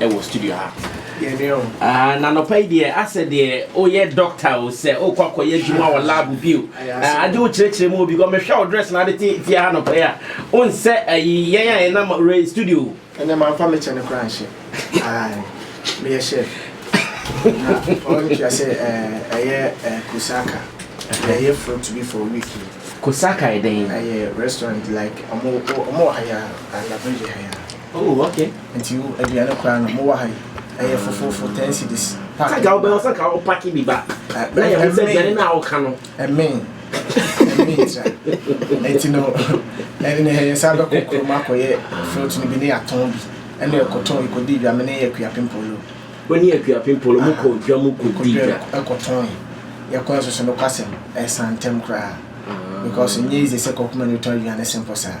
wɔ studio ha. Na nɔpa yi deɛ asɛ deɛ woyɛ doctor o sɛ wokɔ akɔyɛ adwuma wɔ lab bi o agye wo kyerɛkyerɛ mu obi kɔ mehwɛ wo dress na ade te tia ha nɔpa yi a wonsɛ ayi yɛn a yɛnam re studio ɛnɛ mamfa me kyɛ no koraa nhyɛ meyɛ hyɛ na ɔntua sɛ ɛyɛ kusaka ɛyɛ fruit bi for week yi kusaka ɛdɛn ɛyɛ restaurant like ɔmo ɔmo wɔ ha yɛ a anabɛgye ha yɛ a Oh ok nti wo aduane koraa no mowɔ ha yi ɛyɛ fofofo ten cedis pack. Sɛ ka wobɛwɔ sɛ ka wo pack bi ba na yɛ ho sɛ aduane no a woka no. Ɛmen ɛmen tra ɛti no ɛne yɛ sa bɛkɔ kurom akɔyɛ fruit no bi ne yɛatɔn bi ɛne ɛkɔtɔn ɛkɔdi dwa me ne yɛ akua pimpolo. Wo ne akua pimpolo mu kɔ dwa mu kɔdi dwa. Ɛkɔtɔn yɛkɔ nso so no kwasɛm ɛsan ntɛm koraa because nyɛ easy sɛ kɔkoma no tɔn aduane simple saa.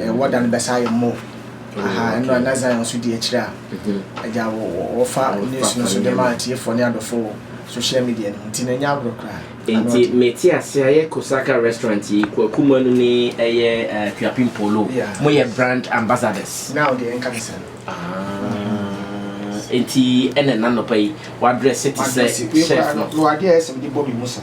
Eh, wɔda no bɛsa ayɛ mmɔ. Aha, oh, ɛno a na Zion nso di akyire a. Mm-hmm. Agya wɔfa news no so de ma atiefoɔ ne adɔfoɔ wɔ social media no nti na ɛnyɛ agorɔ koraa. Nti mete ase ayɛ Kosaka restaurant yi Kwaku Manu ne ɛyɛ eh, Kuapim Polo. Moyɛ brand ambassadors. Now deɛ ɛnka ne sɛ. Nti ɛna nanɔpa yi wadrɛse te sɛ chef no. Wadeɛ ɛsɛ mede bɔ me mu sa.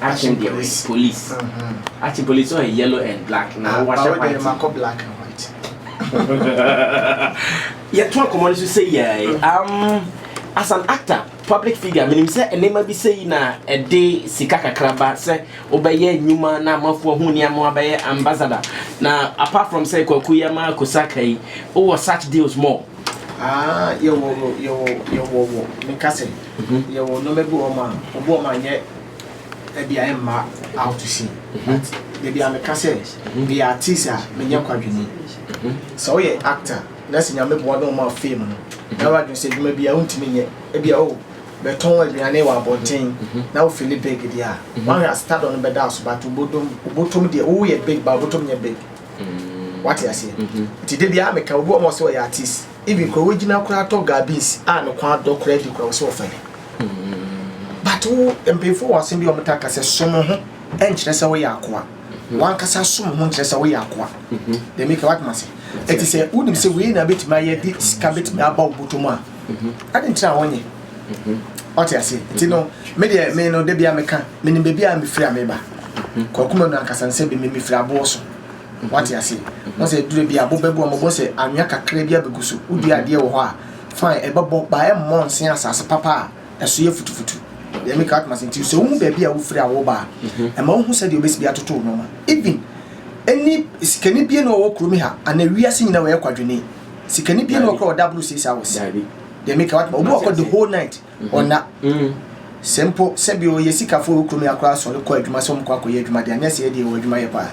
Akyem deɛ wei police. Akyem police ɔyɛ yellow and black na ah, wahyɛ white. Ɛma kɔ black and white. Yɛto akɔmɔ no so sɛ yɛɛ. Mm. Um, as an actor public figure menim sɛ nneɛma bi sɛ yi na ɛde sika kakra ba sɛ wobɛyɛ nnwuma na amafoɔ ho nneɛma abɛyɛ ambassador na apart from sɛ kwaku yi ama kosaka yi wowɔ such deals more ah, yɛwɔ yɛwɔ yɛwɔ meka sɛ mhm. yɛwɔ nneɛma bi wɔ ma ɔbɔ ma nyɛ ɛdeɛ ɛmma out to sea but baabi a meka sɛ meyɛ artist a menyɛ kwadwene sɛ woyɛ actor na sɛ nyame boa na ɔma fame no na wadwene sɛ adwuma bi a wontumi nyɛ ebi a o bɛtɔn aduane wɔ abɔnten na wo fili big deɛ a wahwɛ a stardom no bɛda aso but wobɔtɔm deɛ woyɛ big ba wobɔtɔm nyɛ big wate aseɛ nti da biara meka obi wɔ ma ɔsɛ ɔyɛ artist Even koraa wogyina koraa tɔ garbins a ne kwan adɔ koraa di koraa wɔsɛ wɔfa bi. But wo mpanyinfoɔ wɔ asɛm bi a wɔn ta ka sɛ som ho nkyerɛ sɛ woyɛ akoa. Wankasa som ho nkyerɛ sɛ woyɛ akoa. Dɛm ika wate ma se. Ɛti sɛ wonim sɛ wei na betumi ayɛ de sika betumi aba wo bɔtɔ mu a. Adi nkyerɛ a wɔnyɛ. Wate ase. Ti no me deɛ me no debia meka menim baabi a mefiri a meba. Kɔ akoma no ankasa no sɛ bɛmɛ mefiri aboɔ so. Wate ase? Ɔn sɛ ɛduru bia bo bɛbɔ a ɔmo bɔ sɛ anwea kakra bi abegu so. Wo dua adeɛ wɔ hɔ a fine ɛbɛbɔ but ɛmmɔ nsen asaase papa a ɛso yɛ futufutu. Deɛ meka wate m'ase nti sɛ wo hu baabi a wo firi a wo ba a ɛma wo hu sɛdeɛ wo bɛsi bi atoto wo nnoɔma. Even ɛni sikani bie na ɔwɔ kurom ha anaa wiase nyinaa ɔyɛ kwadwoni. Sikani bie na ɔwɔ hɔ koraa a ɔda aboro siesie a wɔ se. Deɛ meka wate m'ase obi wɔ hɔ the whole night. Ɔnna. Sɛ mpo sɛ bi ɔyɛ sikafo wɔ kurom yi akora asɔre kɔ adwuma sɛ ɔmokɔ akɔyɛ adwuma deɛ anyɛ sɛ yɛdeɛ yɛwɔ adwuma yɛ paa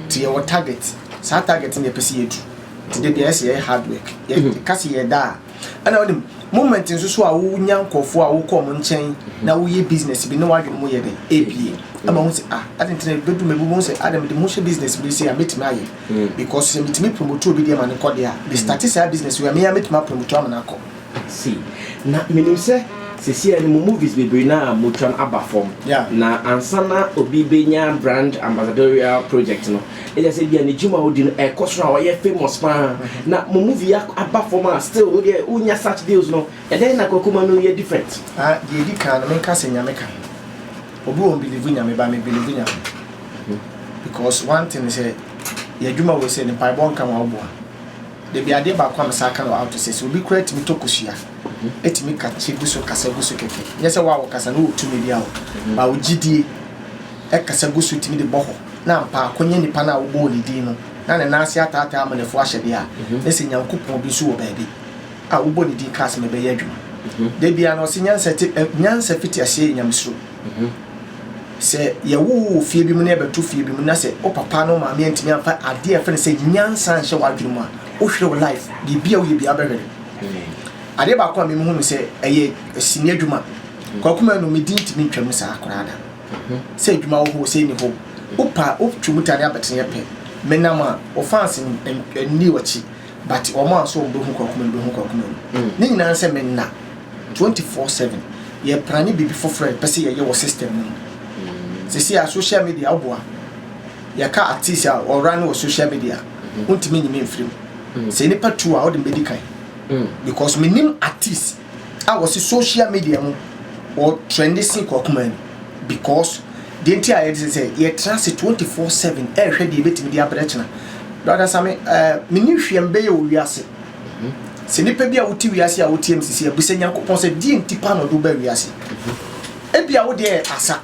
nti yɛwɔ target saa target no yɛpɛ sɛ yɛdu nti da bi ayɛ sɛ yɛyɛ hard work yɛka sɛ yɛda a ɛna wonim moment nso so a wonya nkɔfoɔ a wokɔ ɔmo nkyɛn na woyɛ business bi ne wadwene mu yɛ dɛ ebie ama wo sɛ ah ade ntina bɛdu ma ebubu sɛ ada mede mo hyɛ business bi sɛ a mɛtumi ayɛ because sɛ metumi promote obi deɛ ma ne kɔ deɛ a de start saa business wei a meya mɛtumi apromote ama no akɔ Sei na menim sɛ sesei no mo movies bebree no ara motwa no aba fam na ansa na obi bɛnya brand ambassadorial project no ɛkyerɛ sɛ bia ne dwuma a ɔdi no ɛkɔ soro a ɔyɛ famous paa na mo movie yi aba fam a still wo deɛ wonya such deals no ɛdɛn na Kwakuma no yɛ different? Ah, deɛ ɛdi kan no menka sɛ Nyame ka ho. Obi wɔn believe Nyame but me believe Nyame because one thing sɛ yɛn adwuma wei sɛ ne mpaebɔ nka ma wo boa. Dabi, adeɛ baako a me san ka no out sɛ, sɛ obi koraa tumi tɔ kosua, tumi ka kye gu so kasa gu so kɛkɛ, nyɛ sɛ wo a wokasa no wɔ tumi biara o, baa wo gyidie, kasa gu so tumi de bɔ hɔ, na ampa ara kɔnya nipa no a wobɔɔ ne din no, na ne nan ase ataataa amanefo ahyɛ deɛ a, na sɛ Nyankopɔn bi nso wɔ baabi a wobɔ ne din ka asɛm a ɛbɛyɛ adwuma. Da biara no, ɔse nyansa te, nyansa fiti aseɛ yɛ Nyamesuro. Sɛ yɛwo wo wɔ fie bi mu na yɛbɛto fie bi mu na sɛ wo papa no maame antumi amfa adeɛ a yɛfrɛ no sɛ nyansa nhyɛ w'adwene mu a, wohwere wo life. Biribi a woyɛ biara bɛhwere. Mm. Adeɛ baako a memu hu no sɛ ɛyɛ sini adwuma. Mm. Kwakuma no medi ntumi ntwam saa koraa da. Mm-hmm. Sɛ adwuma wɔ hɔ sɛ ɛni hɔ. Wopa wotwe mu ta ne abɛtene yɛ pɛ. Menam a wɔfans nni wɔkyi. But wɔn a so wɔn bɛ hu kwaku mɛ no bɛ hu kwaku mɛ no ne nyinaa sɛ mɛ nna twenty four seven yɛ prane bibi foforɔ yɛ pɛ sɛ yɛ yɛ wɔ system no mu sisi a social media ɔboa yɛ ka artist a ɔra ne wɔ social media ntumi nyimi nfirim sɛ nipa tu a ɔde mbɛ di kan because mɛ nim artist. a wɔsi social media mu wɔ trɛnde sen kɔ akoma mu because deɛ nti a yɛde sɛ sɛ yɛtena ase twenty four seven ɛrehwɛ deɛ ebetumi de abrɛ kyena brada sami ɛɛ eh, mini hwɛ mbɛyɛ wɔ wiase mhm. sɛ nipa bi a wote wiase a wotie mu sisi abisa nyankopɔn sɛ deɛ nti pa na ɔde ba wiase mhm. ebi a wo deɛ asa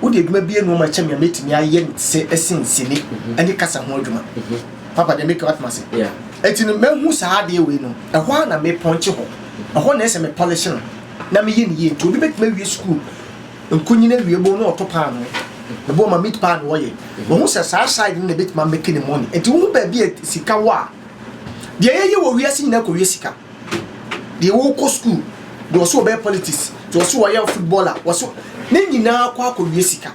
Wode adwuma bi nneɛma kyɛ me a mɛtumi ayɛ no sɛ ɛsen sini ne kasa ho adwuma. Papa deɛ meka watena ase. Ɛti no mahu saa adeɛ wei no, ɛhɔ a na mepɔnkye hɔ. Ɛhɔ na ɛsɛ me polish no na meyɛ no yie. Nti obi bɛtumi awie sukuu nkunyini awie bo na ɔto paano. Ɛbɔ ma meat pie na ɔyɛ. Mahu sɛ saa side no na ɛbɛtumi amɛke ne money. Ɛti wohu baabi a sika wɔ a, deɛ yɛyɛ wɔ wiase nyinaa kɔwie sika. deɛ ɔɔkɔ sukuu, deɛ ɔse ɔbɛyɛ politics, deɛ ɔse ɔyɛ footballer, ɔse ne nyinaa kɔ akɔwie sika.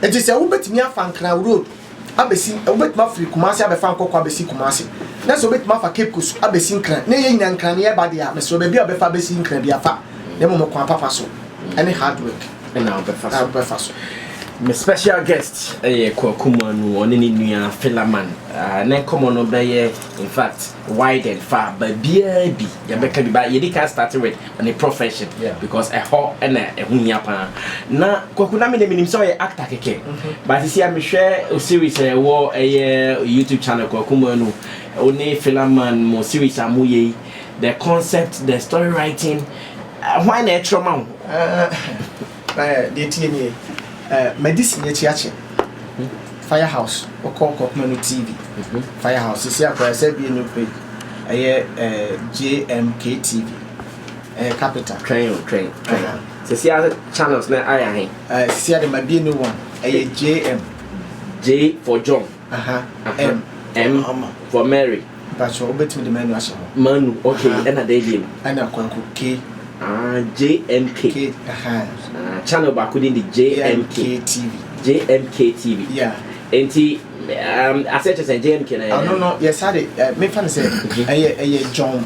Nti sɛ wobɛtumi afa Nkran road abɛsi, wobɛtumi afiri Kumasi abɛfa nkɔkɔ abɛsi Kumasi, na sɛ wobɛtumi afa Cape Coast abɛsi Nkran, na ɛyɛ nyinaa Nkran ne ɛba deɛ a, mesrɛ baabi a wobɛfa abɛsi Nkran biara fa, na mmom ɔkwan papa so ne hard work na wobɛfa so. Me special guest yɛ Kwaku Manu, ɔne ne nua Philaman, na nkɔmmɔ no bɛyɛ in fact. widen fa baabiara bi yɛbɛka bi ba yɛdi kan start with ne profession because ɛhɔ ɛna ɛho hia paa na kwaku na menim menim sɛ ɔyɛ actor kɛkɛ mhm. but sisi a mehwɛ o series a ɛwɔ ɛyɛ youtube channel kwaku manu o ne filaman mo series a mo yɛ yi the concept the story writing eh, why na ɛtrɔ ma wo eh, Ɛɛ, deɛ ɛteɛ nie, ɛɛ, madi sini akyi akyɛ, Fire House, wokɔ Kɔpema no tii bi, Fire House, sisi a koraa yɛsɛ abue new page, ɛyɛ ɛɛ, JMK TV, ɛyɛ Capital. Twɛn o, twɛn, twɛn. Aha. Sisi a channels no ayɛ ahe? Ɛɛ, sisi a deɛ mabue new one, ɛyɛ JM. J for John. Aha, M. M Mahama. for Mary. Mpatsɔ, wobɛtumi de Manu ahyɛ hɔ. Manu, ok, Aha. ɛna dɛn bio? Ɛna Kwaku, K. Ah, JMK. K, aha. Ah, channel baako din de JMK. JMK TV. JMK TV. Yeah. Nti, um, aseɛ kyerɛ sɛ JMK na yɛ. Ano no, yɛ saa de, eh, mefa no sɛ, ɛyɛ, ɛyɛ John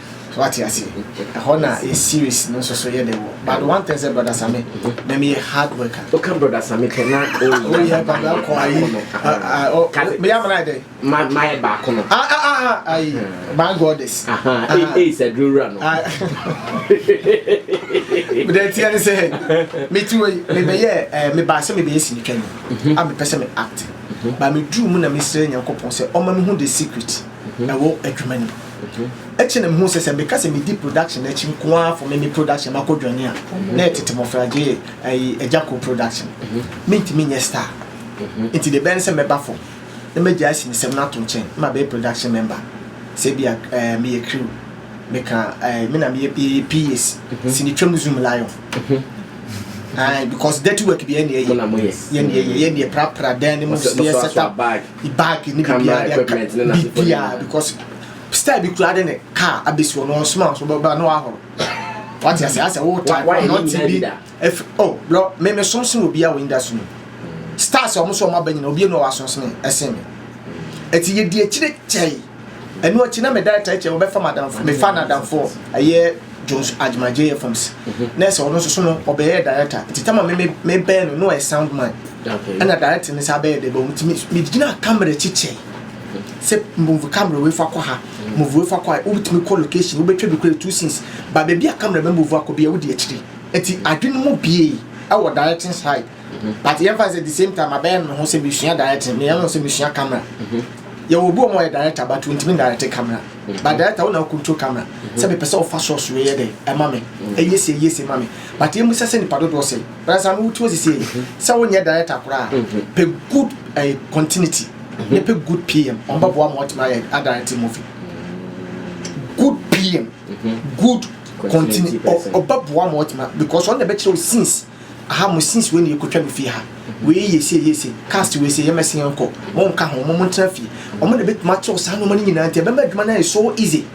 So wate aseɛ? Ɛhɔ na yɛ series no nso so yɛ dɛ wɔ. But one thing sɛ Brother Same, na meyɛ hard worker. Woka Brother Same pɛ na woyɛ baako ayi. Meyɛ amena ayɛ dɛ? Mayɛ baako no. Ah ah ah ah ayi. My goddess. Aha, ei sɛ duro wura no. Mede atia ne sɛ, meti wɔ yi, mebɛyɛ, mebaa sɛ mebɛyɛ sinitwani, a mepɛ sɛ me act. Ba meduru mu na mesrɛ Nyankopɔn sɛ ɔma mehu the secret ɛwɔ adwuma no mu. Akyiri na mehuu sɛ sɛ meka sɛ medi production akyi nko ara fo me me production makɔ dwane a, na ɛyɛ tete mmɔfra gye ayi agya ko production. Mentumi nyɛ star. Nti deɛ ɛbɛyɛ ne sɛ mɛba fam na magyae asinesɛm no ato nkyɛn na mabɛyɛ production member. Sɛ ebia eh, meyɛ crew, meka eh, me na meyɛ yɛyɛ PAs, sini twam zoom lion. Aye, because dirty work biara na yɛyɛ. Yɛne yɛyɛ, yɛne yɛprapra dan no mu, yɛ set up. bag ne biribiara de aka biribiara because style bi kura de ne car abɛsi hɔ na ɔnsoma nso bɛba na wahoro wate ase asɛ wo type na ɔte bi ɛfi oh bro me me som sen obi a wɔ industry mu stars a wɔn so wɔn aba nyina obi enu a wɔasom sen ɛsen mi ɛti yɛ di akyire kyɛe Ɛno akyi na me director ɛkyɛ wɔbɛfa madamfo mefa nadamfo ɛyɛ Jones Agyemang J F Ms na ɛsɛ ɔno nso so no ɔbɛyɛ director nti tama me me me bɛn no no ɔyɛ sound man ɛna director ne saa bɛyɛ dɛ bɛ nti me me gyina camera akyi kyɛ sɛ move camera wei fa kɔ ha move wei fa kɔ ha wobɛtumi kɔ location wobɛtwa bi kura two scenes ba baabi a camera bɛ move akɔ bi a wodi akyiri nti adwene mu bie ɛwɔ directing side But yɛmfa no sɛ the same time abɛyɛ no me ho sɛ mesua directing meyɛ no sɛ mesua camera yɛwɔ obi ɔmo ɔyɛ director but ontumi direct camera but director wo na wo control camera sɛ mepɛ sɛ wofa shots wei yɛ dɛ ɛma me ɛyɛ se ɛyɛ se ma me but yɛmu sɛ sɛ nipa dodoɔ sɛ bɛrɛ sɛ ano wotu osisi yi sɛ wonyɛ director koraa pɛ good uh, continuity ne pɛ good pm ɔmo bɛboa ma ɔtumi ayɛ adirect movie good pm good continue ɔbɛboa ma ɔtumi because ɔno na ɛbɛkyerɛ wo scenes Aha mo since wei na yɛkɔtwa no fie ha wei yɛ sei yɛ sei cast wei sɛ yɛmɛse yɛnkɔ mo nka ho mo mo ntena fie ɔmo na bɛtumi atew saa nneɛma no nyinaa nti ɛbɛma adwuma no ayɛ so easy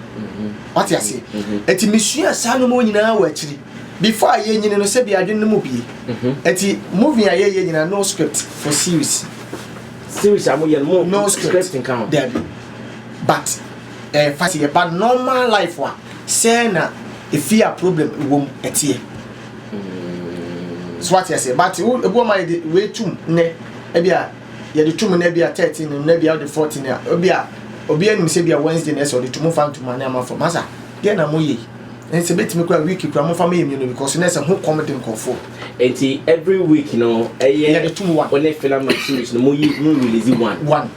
wate aseɛ ɛti mesua saa nneɛma nyinaa wɔ akyiri before a yɛnyini no sɛbi adwene no mu bie ɛti movie a yɛyɛ nyinaa no script for series series a moyɛ no no script nka ho dabi but ɛyɛ eh, fa sɛ yɛba normal life a sɛ na ɛfie a problem wɔ mu ɛteɛ hmm. so wate aseɛ but wo ebi wɔn a yɛde wei tum nnɛ ebi a yɛde tum nnɛ ebi a thirteen nnɛ ebi a ɔde fourteen a ebi a obi anim sɛ ebi a wednesday na ɛsɛ ɔde tum fa ntoma ne ama fam asa deɛ na mo yɛ yi ɛnsɛ betumi kura week kura mo fa mo yɛ mmienu because na ɛsɛ ho kɔm de nkɔfoɔ. eti every week no ɛyɛ yɛde tum one ɔne filam na series no mo yi mo release one one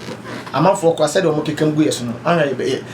amanfoɔ kura sɛdeɛ wɔn keka mu gu yɛ so no ahwɛ yɛ bɛyɛ.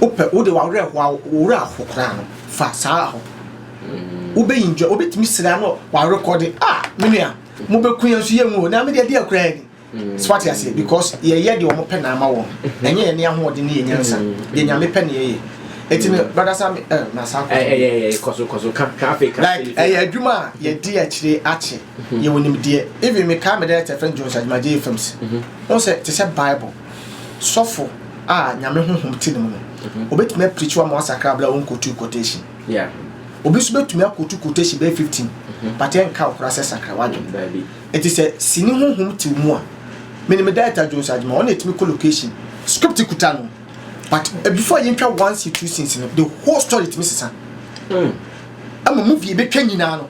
wopɛ wode w'awerɛhoɔ a wo werɛ aho koraa no fa saa ho wobɛyi ndwa wobɛtumi sira no warekɔde a ah, menua mobɛku yɛn nso yɛnwu na mede adi akora yɛn mm. so wate aseɛ because yɛyɛ deɛ wɔpɛ na ama wɔn mm-hmm. ɛnyɛ yɛne ahoɔden ne yɛ nyansa mm-hmm. deɛ nyame pɛ ne yɛyɛ ɛti no mm-hmm. brada sami eh, nasa eh, eh, like ɛyɛ adwuma a yɛde akyire akye yɛwɔ nimdeɛ even mekaa mede ɛtɛ fɛ jones adwumagye films wo sɛ te sɛ bible sɔfo a Nyame honhom te ne mu no, obetumi aprikyiw ama wasakra bere a onkotuu quotation. Obi nso betumi akwotu quotation bɛyɛ fifteen, but ɛnka wo koraa sɛ sakra w'adwene. Enti sɛ sini honhom te wo mu a, minim me director Jones Agyemang, ɔno na etumi kɔ location, script kuta no, but before yentwa one scene, two scenes no, the whole story tumi sesa. Ɛma movie a ebetwa nyinaa no,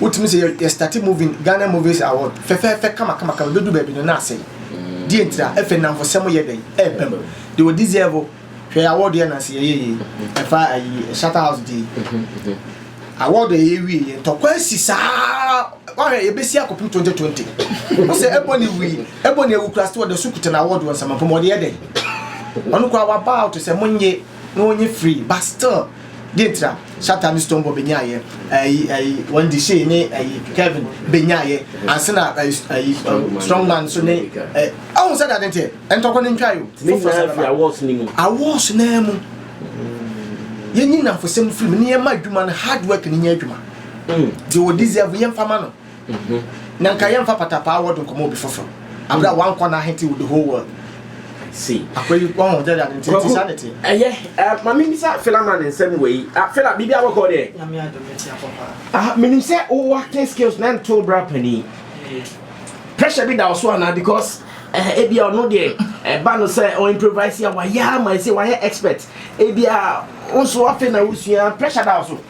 Wotumi sɛ yɛ starte moving Ghana movies award fɛfɛɛfɛ kama kama kama ebedu baabi no na asɛe. Deɛ ntira ɛfɛ nnamfosɛm yɛ dɛn ɛɛba mu. Deɛ wɔ deserve hwɛ award yɛ nansi yɛyɛ yie ɛfa ayi shatter house deɛ yi award ɛyɛ wie yɛ ntɔkwa asi saa wahwɛ yɛbɛsi akɔpem 2020 wo sɛ ɛbɔ ne wui ɛbɔ ne awu kura sɛ wɔda so kuta na award wɔ nsɛmapɔ mu ɔde yɛ dɛn ɔno kura waba out sɛ monye na wɔnyɛ free but still Deɛ nti a Shatta ne Stonebwoy bɛnyaaeɛ, ɛyi ɛyi wɔn Deshey ne ɛyi Kevin bɛnyaaeɛ, ansa na ɛyi ɛyi Strongman nso ne ɛ ɔho sɛ deɛ ade nteɛ, ntɔkwa no ntwae o, foforɔ san bɛba. Awards no mu. Awards no ara mu. Yɛnyi nnamfosɛm mfiri mu na yɛmma adwuma no hard work no nyɛ adwuma. Deɛ ɔdeserve yɛmfa ma no. Na nka yɛmfa patapaa word nkɔmmɔ obi foforo abere a wankɔ na ahete with the whole world. Si. Akwa yi wɔn ho dɛrɛ adi nti nti saa ne te. Ɛyɛ ɛɛ maame bisa Fela man nsɛm wɔ yi. Ah Fela bibi a wɔkɔ deɛ. Nyame adum ne ti akɔ paa. Ah minim sɛ wo acting skills na nto bra panin. Pressure bi da ɔso anaa because ɛɛ eh, ebi a ɔno deɛ ɛba no sɛ ɔ improvise a wayɛ ama ɛsɛ wayɛ expert ebi a nso afe na wosua pressure da ɔso.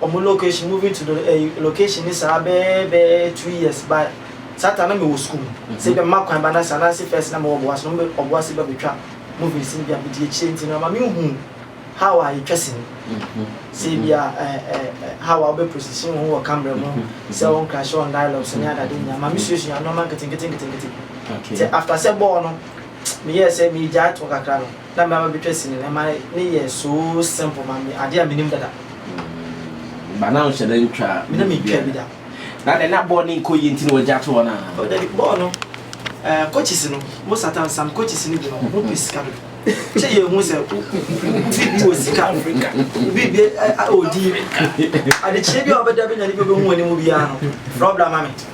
Ɔmo location moving to the eh location ne saa bɛɛ bɛɛ two years ba saa time na me wɔ school mu nti ebia mɛma kwan ba na saa na se first na me wɔ ɔboase na ɔmo bɛ ɔboase bɛ betwa moving sini bi a medi akyire nti no ama me nhu how a yɛtwa sini sɛ ebia eh eh eh how a wobɛ position wo ho wɔ camera mu sɛ wɔn crash wɔn dialogue so ne adade nyinaa ama me suasua nnoɔma nketenkete nketenkete nti after sɛ bɔɔl no me yɛɛ sɛ me gyae toɔ kakra no na mɛba abɛtwa sini no, ɛma ne yɛ so simple ma me, adeɛ a menim dada. Mm, ba na nhyɛ da ntwa. Me na mentwa bi da. Na dɛ na bɔɔl no nkɔ yie nti na wɔagya to hɔ no a? Oh, dabi, bɔɔl no, eh, coaches no, mo Satan Sam coaches no bi no, wɔn pɛ sika dodo. Kyɛ yɛn hu sɛ obi bi wɔ sika, obi bi ɔdi, adekyerɛ bi a ɔbɛda bɛnya ne bi ɔbɛhu anim biara no, frɛ ɔbra ma me.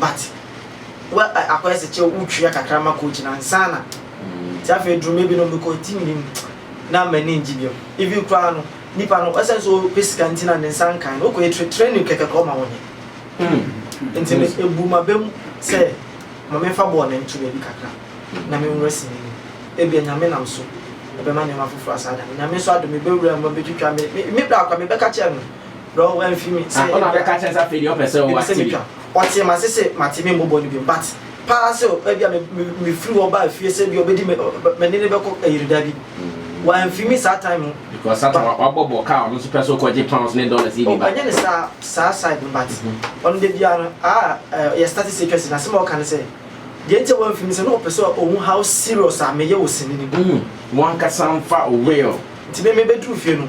But wa ɛ akɔyɛ sɛ kyɛ wo twia kakra ma coach no ansa na nti afei aduru mmɛ bi no mekɔ nti menim na m'ani ngye biom even koraa no nipa no ɛsɛn sɛ ɔpɛ sika nti na ne nsa nkae no wokɔ yɛ training kɛkɛ koraa ɔma wonyɛ hmm. nti me ebu ma bɛ mu sɛ ma memfa bɔɔl na ntu baabi kakra na menwura si n'ani ebia nyame nam so ɛbɛma nneɛma foforɔ asaa da no nyame nso adom ebɛwura mu abɛtwitwa me me bra kwa mebɛka kyerɛ no Bro wo amfi me sɛ ebia. Ɔna bɛka akyerɛ sɛ afei deɛ ɔpɛ sɛ ɔwɔ TV. Ɔtee m'ase se mate me mmɔbɔ no biom but paa sɛ ebia me firi hɔ baa fie sɛ ebia ɔbɛdi me me ne no bɛkɔ ayiri dabi wamfi me saa time no. Because satan wabɔ bɔ kaa ɔno nso pɛ sɛ ɔkɔ gye pounds ne dollars yi bi ba. Ɔnyɛ ne saa saa side no but ɔno da biara no aa yɛ start sɛ atwa si na asɛm a ɔka ne sɛ deɛ nti a wamfi me sɛ na ɔpɛ sɛ ɔhu how serious a meyɛ wɔ sini no mu. Wankasa mfa real. Nti me mebɛduru fie no.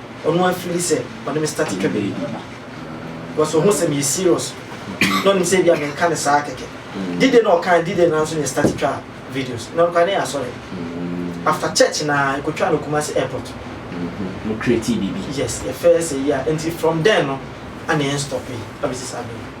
Ɔno a fili sɛ ɔne me starte twa bɛyɛ bi because ɔhu sɛ meyɛ serious na ɔnim sɛ ebia menka ne saa kɛkɛ. Dide na ɔkaa dide na nso ne starte twa videos na ɔkwa ne yɛ asɔre after church na ɛkɔtwa no Kumasi airport. Mo create bibi. Yes, yɛfɛɛ sɛ yi a nti from then no ana yɛn stɔpe abɛsi saa bere yi.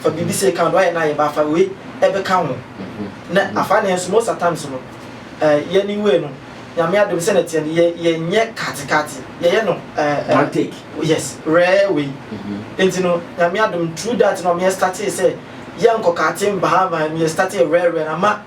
Fa biribi sɛ ka noɛ na yɛba afa wei ɛbɛka ho na afa ne nso most at times no eh, yɛ ne wei no nyame adom sɛ na teɛ no yɛ yɛ nyɛ kate kate yɛ yɛ no eh, eh, one take yes rare wei mm -hmm. nti no nyame adom through that no ɔmo yɛ startee sɛ yɛ nkɔ kate mbaha mbaha yɛ startee rare rare na ma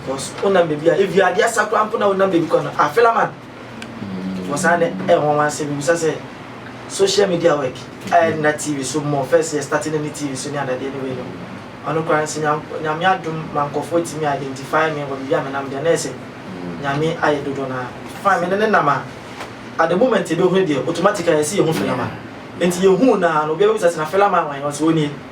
Because wonam baabi a ebi adeɛ asa koraa mpo na wonam baabi kɔ no afela man wɔ saa nɛ ɛwɔ wɔn asɛ mibisa sɛ social media work ayɛ nna tv so mmɔ first yɛ starting ne tv so ne adadeɛ ne wei no ɔno koraa nsɛ nyame adom ma nkɔfoɔ tumi identify me wɔ biribi a menam deɛ na ɛsɛ nyame ayɛ dodo no a fine mene ne nam a at the moment yɛbɛhunu deɛ automatic a yɛsi yɛhu fela man nti yɛhu no a no obiara bisa sɛ na fela man wɔn yɛ ɔsɛ ɔnie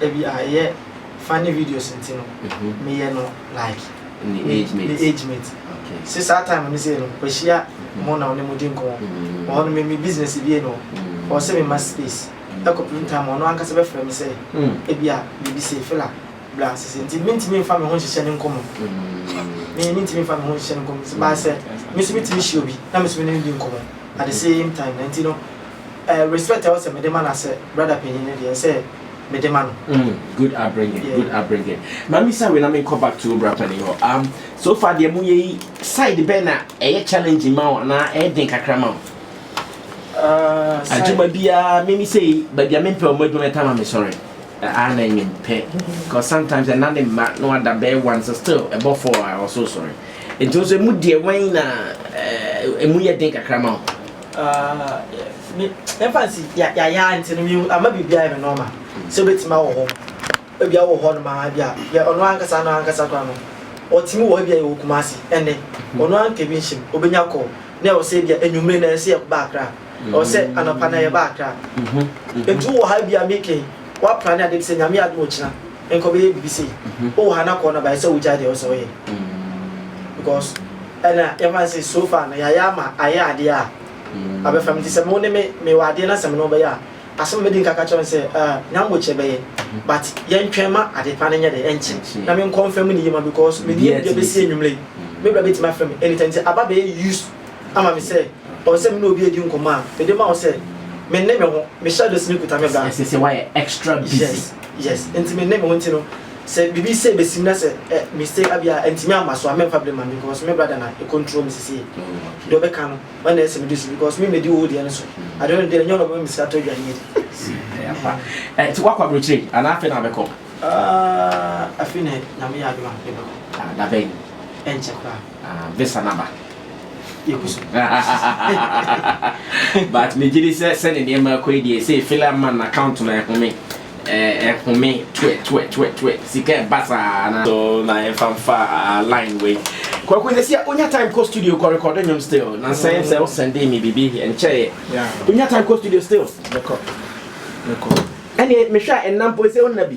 ebi a ɛyɛ funny videos nti no meyɛ no like me age mate se saa time no sei no kwahyia mo na ɔne mo di nkɔmmɔ wɔ hɔ no me me business bie no ɔwɔ sɛ mema space ɛkɔpem time ɔno ankasa bɛfrɛ me sɛ ebi a biribi sei fela bla sese nti mentumi mfa me ho nhyehyɛ ne nkɔmmɔ me mentumi mfa me ho nhyehyɛ ne nkɔmmɔ baasɛ me so metumi hyia obi na me so me ne no di nkɔmmɔ at the same time na nti no Eh respect a ɔsɛ mede ma no asɛ brother panyin no deɛ nsɛ mede ma no. Mm good upbringing yeah. good upbringing. Ma mi sa wei na mi nkɔ back to bra panyin hɔ. Um so far deɛ mo yɛ yi side bɛn na ɛyɛ challenge ma wo anaa ɛyɛ den kakra ma wo? Uh, adwuma biara mimi sei baabi a mempɛ ɔmo adwuma ɛtama me sɔre ɛa na ɛnyɛ mpɛ cause sometimes ɛna ne mma na wada bɛyɛ one so still ɛbɔ four a ɔso sɔre nti nso emu deɛ wɛn na ɛmu yɛ den kakra ma o. Ah, me, yɛmfa nsi, ya, ya, ya, nti no, mehu, ama biribi ayɛ me nɔɔma, sɛ obetumi awɔ hɔ, ebi awɔ hɔ nom aa, ebi a, yɛ, ɔno ankasa, ano ankasa koraa no, ɔtumi wɔ hɔ, ebi a yɛwɔ Kumasi, ɛnnɛ, ɔno ara nka bi nhyɛ mu, obenya call, na ɛwɔ sɛ ebi a, anwummere na ɛyɛ sɛ yɛba Accra, ɛwɔ sɛ anɔpa na yɛba Accra, nti wowɔ ha ebi a, me kɛn, woapra ne ade bi sɛ, Nyame adom a ɔkyena, nkɔ bɛyɛ biribi sei, wowɔ ha na call no aba, ɛsɛ sɛ wogyae deɛ ɛwɔ sɛ woyɛ, because. Ɛna yɛfa no sɛ so far no yɛayɛ ama ayɛ adeɛ a abɛfa me nti sɛ mo ne me mewɔ adeɛ na sɛ me ne wo bɛyɛ a asɛm a mɛdi nka ka kyerɛ no sɛ ah nya mbo kyɛ bɛyɛ but yɛntwɛn ma ade pa no nyɛ dɛ ɛnkye na me nkɔ mfa mu ne yie ma because me nua bi deɛ bɛsi anwummerɛ yi me bra bɛtumi afrɛ me anytime nti aba bɛyɛ used ama me sɛ ɔwɔ sɛ me ne obi adi nkɔmmɔ a mede ma wo sɛ me nne me ho me shadows no kuta me bra ɛsɛ sɛ woayɛ extra busy yes yes nti me nne me ho nti no. Sɛ biribi sei bɛsim na sɛ ɛ, mistake a bi a ɛntumi amma so a, mɛmfa blame ma me because me brother na ɛ control me sisi yi. Deɛ ɔbɛka no, ɔno na ɛyɛ sɛ mede si because me mɛdi wo deɛ no so. Ade no deɛ, ɛnyɛ ɔno na ɔbɛma me sika atɔ aduane adi. Ɛyɛ ampa. Ɛnti woakɔ aburokyire yi anaa afei na wobɛkɔ? Ah, afei na Nyame yɛ adom a mebɛkɔ. Ah, dabɛn? Ɛnkyɛ koraa. Ah visa no aba. Yɛgu so. But megye di sɛ sɛne nneɛma akɔ yi deɛ sɛ filler man account no ɛhome ɛhome twɛ twɛ twɛ twɛ sika ɛba saa na so na yɛmfa mfa line wei kwaku sɛ sia onya time kɔ studio kɔ record nnwom still na sɛn sɛ wo sɛnde me biribi nkyɛeɛ onya time kɔ studio still ɛne mehwɛ a ɛnna mpo sɛ wonna bi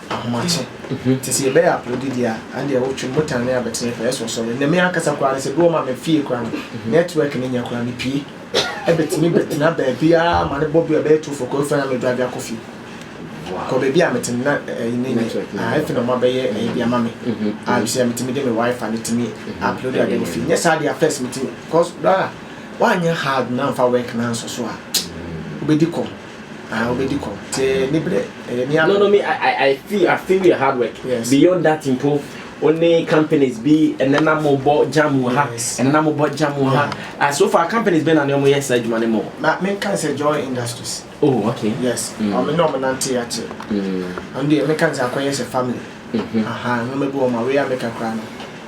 ahomakye. Ntsi sɛ yɛbɛyɛ aporodi dze a, andeɛ wo twe motor ne abɛtsenɛ fɛɛ so ɔsɔre. Ndɛ me ankasa koraa no, sɛ bi wɔ hɔ ma me fie koraa no, network no nnyɛ koraa, mepue. Ebɛtumi bɛtsena baabiara ma no bɔ bi a ɔbɛyɛ two fɔkɔɔ efu a na me drive akɔ fie. Kɔ baabi a metse no na ɛyi no nnyɛ, ah, efi na ɔmo abɛyɛ ɛyi bi ama me. Ah, bisa metumi de me wifi no tumi aporodi ade wɔ fie. Nnyɛ saa dea first metumi, cos brother, wɔannyɛ hard na ammfa work no annsɔ so a, wobedi kɔm. Ah, wobɛdi kɔ. Sɛ ne berɛ, ɛyɛ ne abere. No, no, me, I, I, I feel, I feel your hard work. Yes. Beyond that mpo, wo ne companies bi, ɛnɛ na mo bɔ jam wɔ ha, yes. ɛnɛ na mo bɔ jam wɔ ha. Yeah. Uh, so far, companies bɛ na ne ɔmo yɛ saa adwuma no mu. Ma, me nka sɛ Joy Industries. Oh, okay. Yes. Mm. Ɔmo ne ɔmo nante akyɛ. Mm. Ɔno deɛ, me nka sɛ akɔyɛ sɛ family. Mm-hmm. Aha, ɔmo bɛ bi ɔmo away America koraa no.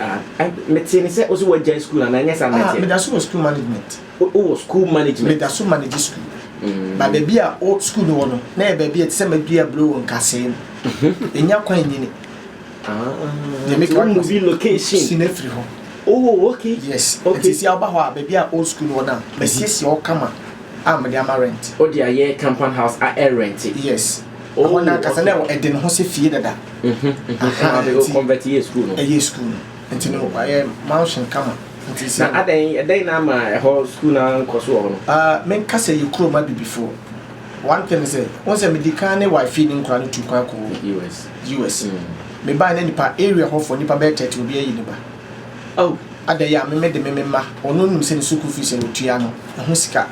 Ah, mete ne sɛ wosɛ woagyae school anaa ɛnyɛ saa ah, mɛteɛ meda so wɔ school management wowɔ school management meda so manage school mm. na baabi a wo school no wɔ no na yɛ baabi a ɛte sɛ madua buro wɔ nkasee no ɛnya mhm. kwan nyini yɛmekamuvi ah. location si no afiri hɔ Oh, okay. Yes. Okay. Nti si awo ba hɔ a, baabi a old school wɔ na, masiesie hɔ kama. a mede ama rent. O de a yɛɛ compound house a ɛ rente. Yes. Oh, Ɛhɔ na ankasa na okay. ɛde ne ho sɛ fie dada. Mhm. Aha, Aha, o nti convert yɛ school no. ɛyɛ school no. Nti no wayɛ mansion kama. Nti sɛ Na adɛn ɛdɛn na ama ɛhɔ school no ara nkɔ so wɔ hɔ no? Ah, menka sɛ yɛ kurom abibifoɔ. One thing ne sɛ, wohu sɛ medi kan ne wife fii ne nkora no tuu kwan kɔɔ US. US. Mm. Mebae na nipa area hɔfoɔ nipa bɛyɛ 30 obiara ayi ne ba. Oh adɛn yɛ a me me de me me mma ɔno nim sɛ ne sukuu fees a me tua no ɛho sika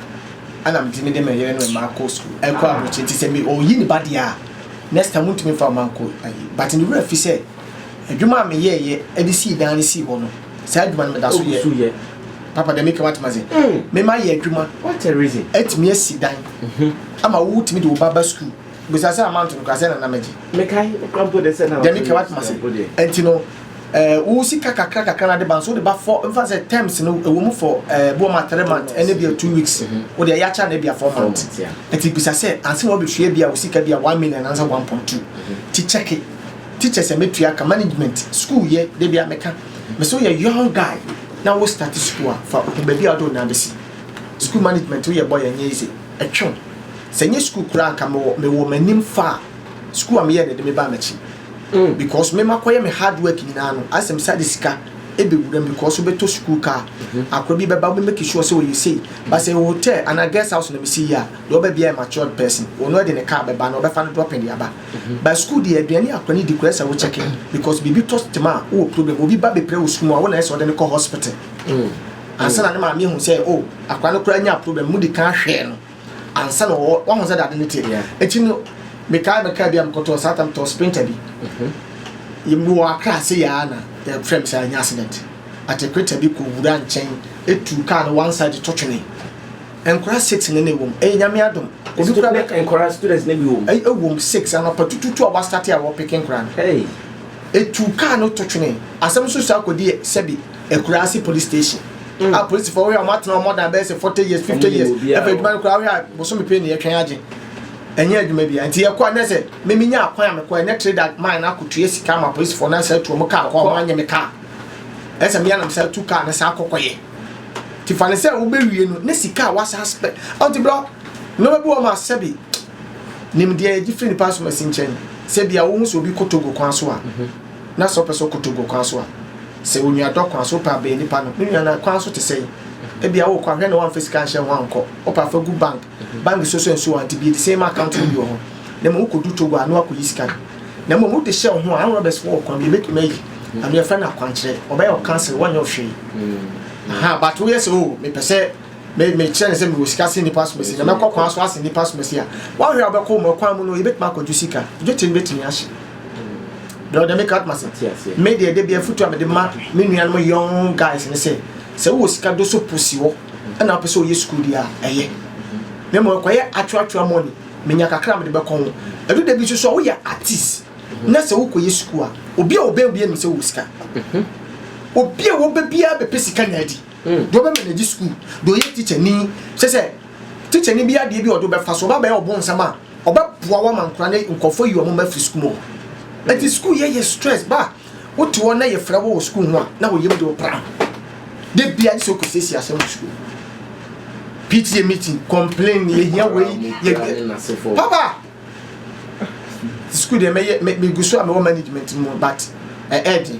ɛna me tumi de me yere ne me mma akɔ sukuu ɛkɔ abrokyire nti sɛ me ɔyi ne ba deɛ a next time ntumi fa ɔma nkɔ ayi but me wura fi sɛ adwuma a me yɛ yɛ ɛde sii dan no sii hɔ no saa adwuma no me da so yɛ so yɛ papa dɛ me kɛ watuma se mm. me ma yɛ adwuma what a reason ɛtumi asi dan mm -hmm. ama wo tumi de wo ba ba sukuu bisa sɛ amanto no kura sɛ na na mɛgye mekae wokura mpo de sɛ na dɛmi kɛ watoma se ɛnti no eh, wo sika kakra kakra na de ba nso wode ba fɔ mfa sɛ terms no ɛwɔ mu fɔ eh, bi wɔma three month ɛne bia two weeks mhm. wode ɛyɛ akyɛ na bia four month ɛnti bisa sɛ anse na wabɛhwie bia wo sika bia one million ansa one point two mhm. ti kyɛke teacher sɛ mɛtua ka management school yɛ de bia mɛka mhm. mɛ sɛ woyɛ young guy na wo start school a fa baabi a wode wo nan bɛsi school management woyɛ bɔ yɛ nyɛ easy Ɛtwew. Sɛ ɛnyɛ sukuu koraa a anka mewɔ mewɔ m'anim fa a sukuu a meyɛɛ na ɛde me baa m'akyi. Because me makɔyɛ me hard work nyinaa no ayɛ sɛ mesan de sika ɛbɛwura mu because wobɛtɔ sukuu car, akora bi bɛba wobɛ make sure sɛ ɔyɛ sei. But sɛ ɛyɛ hotel anaa guest house na mesi yie a, deɛ ɔba biara yɛ matured person. Ɔno ara de ne car bɛba anaa ɔbɛfa no dropping de aba. But sukuu deɛ aduane a akora no di koraa ɛsɛ sɛ wo check. Because biribi tɔ tema a wowɔ problem. Obi ba bɛpira wo sukuu mu a wo na ɛsɛ sɛ ɔde no kɔ hospital. ansa na ne maame ahu sɛ o oh, akwadaa no koraa nya problem mu di kan hwɛɛ no ansa na wɔwɔ wɔn sɛ dade ne te akyi no mekaa mekaa bi a mekɔtɔ saa tam tɔ sprinter bi mhm. yɛmu wɔ akra ase yɛa na yɛfrɛ me sɛ anya accident atekreta bi kɔ wura nkyɛn etu kaa no one side tɔ twene nkora six ne ne wɔm ɛyɛ nyame adom obi kura bɛ nkora students ne bi wɔm ɛyɛ wɔm six anapa tututu a wɔasate a wɔpeke nkora no etu kaa no tɔ twene asɛm nso saa kɔdi sɛbi Akurase police station a polisifo ɔhwɛ a wɔn atena wɔn dan bɛyɛ sɛ forty years fifty years ɛfɛ adwuma no koraa ɔhwɛ a bosome pii na yɛtwɛn agye ɛnyɛ adwuma bi a nti yɛkɔ ɛnɛ sɛ mimi nya akwan a mekɔ ɛnɛ trade that mine akɔ tuye sika ma polisifo na sɛ tuo mo kaa kɔ wɔn anyɛ me kaa ɛsɛ mi anam sɛ tu kaa ne saa kɔkɔ yɛ ti fa ne sɛ wobɛwie no ne sika a wasa spɛ ɔnti blɔ nneɛma bi wɔ ma sɛ bi nimdeɛ yɛgye firi nipa asomasi nkyɛn sɛ bia wohu sɛ obi kɔ togo kwan so a mhm. Na sɛ wopɛ sɛ wokotow gu kwan so a, sɛ onuadɔ kwan so, wopɛ a bɛn nipa no? Me nua, na kwan so te sɛn? Ebia worekɔ a, hwɛ na woamfa sika anhyɛ ho ankɔ. Wopɛ a, fa gu bank. Bank so sua nsuo ante bi, ɛte sɛ ma account no bi wɔ hɔ. Na mmom wokodu Togo a, na woakɔyi sika no. Na mmom wode hyɛ wo ho a, armed robbers foɔ wɔ kwan bi a ɛbɛtumi ayi ano, yɛfrɛ no akwankyerɛ. Wɔbɛyɛ wo counseling, wɔnyɛ wo hwee. Ahaa, but woyɛ sɛ, oh, mepɛ sɛ me, mekyerɛ no sɛ mewɔ sika sen nipa asomasi, na mɛkɔ kwan so asen nipa asomasi a, woanhwɛ a wobɛkɔ mu, kwan mu no, yɛbɛtumi akɔgye sika. Dwetire no bɛtumi ahye. deɛ ɔde me ka atoma se me deɛ ɛde bi afutu a mede ma me nuanom young guys ne sɛ sɛ wowɔ sika do so po si hɔ ɛna wopɛ sɛ ɔyɛ sukuu deɛ a ɛyɛ na mmom ɛkɔyɛ atwerɛatwerɛ mɔni menya kakra a mede bɛkɔ ho ɛdu da bi nso so a woyɛ artist na sɛ wokɔyɛ sukuu a obi a ɔbɛn obi anim sɛ wowɔ sika obi a wɔbɛ biara bɛpɛ sika nya adi deɛ ɔbɛma no agye sukuu deɛ ɔyɛ teacher ni sɛ sɛ teacher ni bi adeɛ bi ɔde bɛfa so ɔba bɛyɛ ɔbo nsɛm a Ɔbɛboa wo ama nkwadaa ne nkurɔfoɔ yi wɔn mma firi sukuu mu hɔ. Ɛti sukuu yɛ yɛ stress ba a wote hɔ na yɛfrɛ wo wɔ sukuu ho a na wo yam de wo pra ho. Da bia gye sɛ wokɔsiesie asɛm wɔ sukuu. PTA meeting, complain, yɛhia wei, yɛ papa. Sukuu deɛ mɛyɛ megu so a mewɔ management mu but ɛɛden.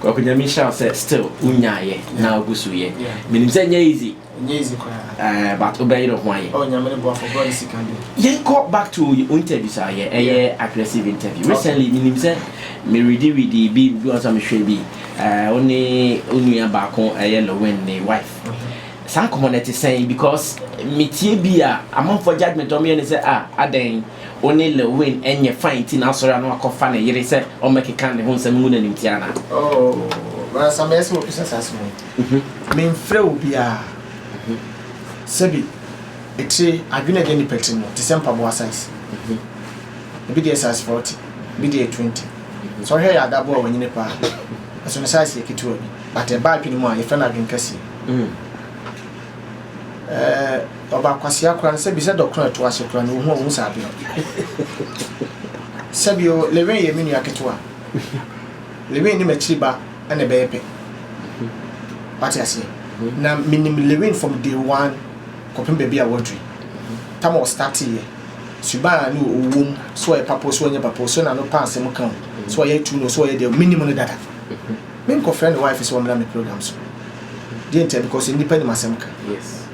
Kwaku Nyame nhyira wo sɛ still wo nyaa yɛ na wo gu so yɛ. Me nim sɛ nyɛ easy. Nyɛ easy koraa. Ɛɛ but wo bɛ yere ho ayɛ. Oh Nyame ne boafo bro ne sika bi. Yɛn kɔ back to wo interviews a yɛ ɛyɛ aggressive interview. Recently me nim sɛ me ready ready bi bi wɔn sɛ me hwɛ bi ɛɛ wo ne wo nua baako ɛyɛ Lowin ne wife. Saa nkɔmɔ no ɛte sɛn because me tie bi a amanfoɔ judgement a wɔn yɛ ne sɛ ah adɛn. Wo ne Lewin nyɛ fine nti na asɔre ano akɔfa ne yere sɛ ɔmmɛkeka ne ho nsɛm ngu no animtiaa anaa? Oh, m'ankasa mɛyɛ sɛ wɔpɛ sɛ saa asɛm no. Memfrɛ obiara. Sɛbi, etire, adwene a ɛda nnipa tirim no te sɛ mpaboa size. Ebi deɛ yɛ size forty, ebi deɛ yɛ twenty. Sɛ wohwɛ yɛn adabo a wanyini paa no, ɛso no size yɛ ketewa bi, but ɛba adwene mu a, yɛfrɛ no adwene kɛseɛ. Ɛɛ ɔba kwasea koraa no, sɛbi sɛ dɔ korɔ a ɛto ase koraa no, ohu a ohu saa bere no. Sɛbi o, Lewin yɛ me nua ketewa. Lewin ne m'akyiri ba na ɛbɛyɛ pɛ. Wate aseɛ? Na menim Lewin from day one kɔpem baabi a waduru. Tam a ɔstarteeɛ, suban a ne ɔwɔ mu, sɛ ɔyɛ papa o, sɛ ɔnyɛ papa o, sɛ n'ano pa asɛm ka o, sɛ ɔyɛ too no o, sɛ ɔyɛ deɛ o, menim no dada. Me nkɔ frɛ ne wife sɛ ɔmmra me program so deɛ ntia because nnipa nim asɛm ka yes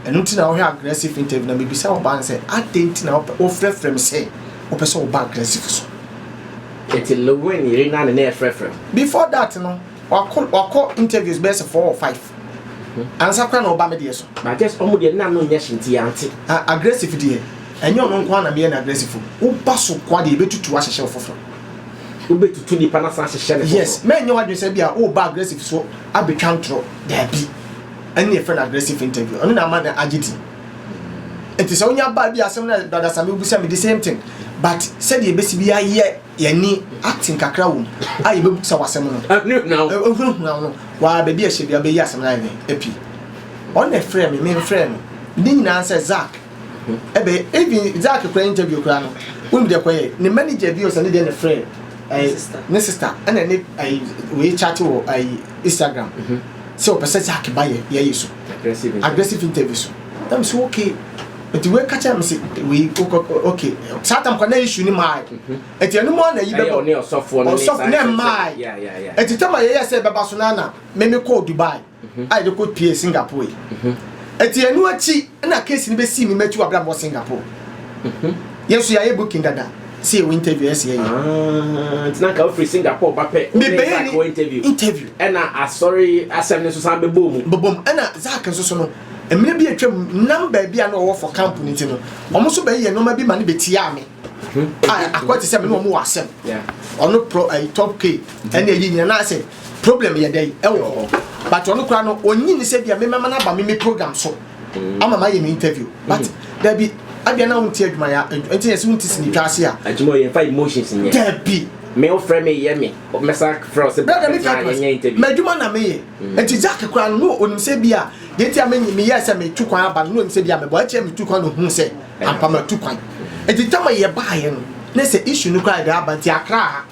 ɛno nti na wohwɛ aggressive interview na mebisa ɔbaa no sɛ adɛn nti na wofrɛfrɛ me sɛ wopɛ sɛ woba aggressive so ɛti lewin yere na ne na ɛfrɛfrɛ before that no wakɔ wakɔ interviews bɛyɛ sɛ four or five mhm. ansa kora na ɔba me deɛ so but just ɔmo deɛ nna no nyɛ hye nti yɛante aggressive deɛ ɛnyɛ ɔno nko na meyɛ no aggressive woba so kwa deɛ yɛbɛtutu ahyehyɛ wo foforɔ Wobɛtutu nipa no asan ahyehyɛ no foforɔ. Yes, mɛnyɛ w'adwene sɛ ebia woreba aggressive so abɛtwa ntorɔ, daabi. Ɛno na yɛfrɛ no aggressive interview, ɛno na ama no agye din. Nti sɛ wonya baa bi a asɛm no a Brother Sammie wobisa me, the same thing. But sɛdeɛ yɛbɛsi bi ayɛ yɛne acting kakra wɔ mu a yɛbɛbisa wo asɛm no, ɛhunahuna wo no, waa baabi a ɛhyɛ biara wobɛyi asɛm no ayɛ dɛn, apue. Ɔno na ɛfrɛɛ me, memfrɛɛ no. Ne nyinaa ne sɛ, Zack, Ebɛyɛ even Zack koraa interview koraa no wonim deɛ kɔyɛ ne manager bi ɔsɛnde deɛ na ɛfrɛ ɛyi ne sister ɛna ne ɛyi wei chat wɔ ɛyi Instagram sɛ ɔpɛ sɛ Zack ba yɛ yɛyi so aggressive interview so na me so okay nti wei ka kyerɛ me se wei wokɔ okay saa tam kɔ na issue ne maa nti ɛno mu a na yi bɛbɔ ɔsɔfo ne mmaa nti tam a yɛyɛ sɛ bɛba so na na me me kɔɔ Dubai. a yɛde kɔ pue Singapore yi. Eti ɛno akyi na case no bɛsii me matu abram wɔ Singapore. Yɛn nso yɛayɛ booking dada sɛ yɛwɔ interview ɛsɛ yɛyɛ. Ah, nti na nka wofiri Singapore ba pɛ wobɛyɛ ni wɔ interview. Interview. Ɛna asɔre asɛm no nso san bɛbɔɔ mu. Bɔbɔ mu. Ɛna Zach nso so no, mmerɛ bi atwam nam baabi a na ɔwɔ for camp no nti no, wɔn nso bɛyɛ nneɛma bi ma no bɛtiaa me. A akɔyɛ te sɛ me ne wɔn wɔ asɛm. Ɔno pro ɛyi top k ɛne ɛyi nyina na asɛ. Problem yɛ dɛn ɛwɔ hɔ but ɔno kura no onyi ni sɛ bia me mɛma no aba me me program so mm. ama ma yɛ me interview but mm. dabi abia na wonti adwuma ya nti yɛ sɛ wonti sini twa ase a adwuma yɛ fa emotions nyɛ dabi me wo frɛ me yɛ me mɛsa frɛ ɔsɛ bɛka me ka yɛ interview m'adwuma na meyɛ mm. nti Jack kura no no onim sɛ bia deɛ nti a meyɛ sɛ metu kwan aba no no onim sɛ bia mebɔ akyɛ metu kwan no hu sɛ ampa matu kwan nti tama yɛ baayɛ no ne sɛ issue no kura yɛ de aba nti akra ha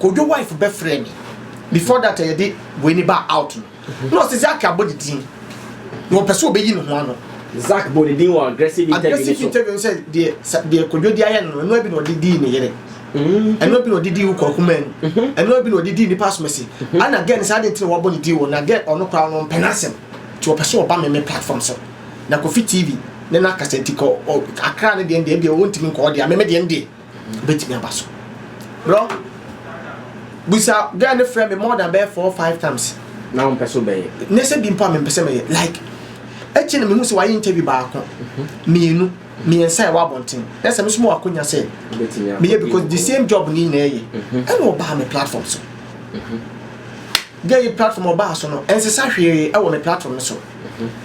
Kojo wife bɛfrɛɛ me before that a yɛde wei no baa out no na ɔse Zack abɔ ne din na ɔpɛ sɛ ɔbɛyi ne ho ano. Zack bɔɔ ne din wɔ aggressive interview no so. Aggressive interview no sɛ deɛ deɛ Kojo de ayɛ no no ɛnoa bi na ɔde dii ne yere. Mm-hmm. Ɛnoa bi na ɔde dii wokɔ akuma mu. Mm-hmm. Ɛnoa bi na ɔde dii nipa asomasi. Mm-hmm. Ana gɛn sɛ adi ntina wabɔ ne din wɔ na gɛn ɔno koraa no mpɛ n'asɛm nti ɔpɛ sɛ ɔba meme platform so na Kofi TV ne n'akasa nti kɔ Akra ne deɛ deɛ deɛ ɔntumi nkɔ ɔdeɛ meme deɛ deɛ bɛtumi aba so bro busa guy no frɛ me more than bɛyɛ four five times na wompɛ so bɛyɛ nyɛ sɛ bi mpo a mempɛ sɛ mɛyɛ like akyi no mehu sɛ wayɛ interview baako mhm. mmienu mmiɛnsa ɛwɔ abɔnten na sɛ mesoma wakonya sɛ meyɛ because the same job ne nyinaa yɛ mhm. ɛna ɔbaa me platform so mhm. gɛ yi platform ɔbaa so no ɛnsesa hwee ɛwɔ me platform no so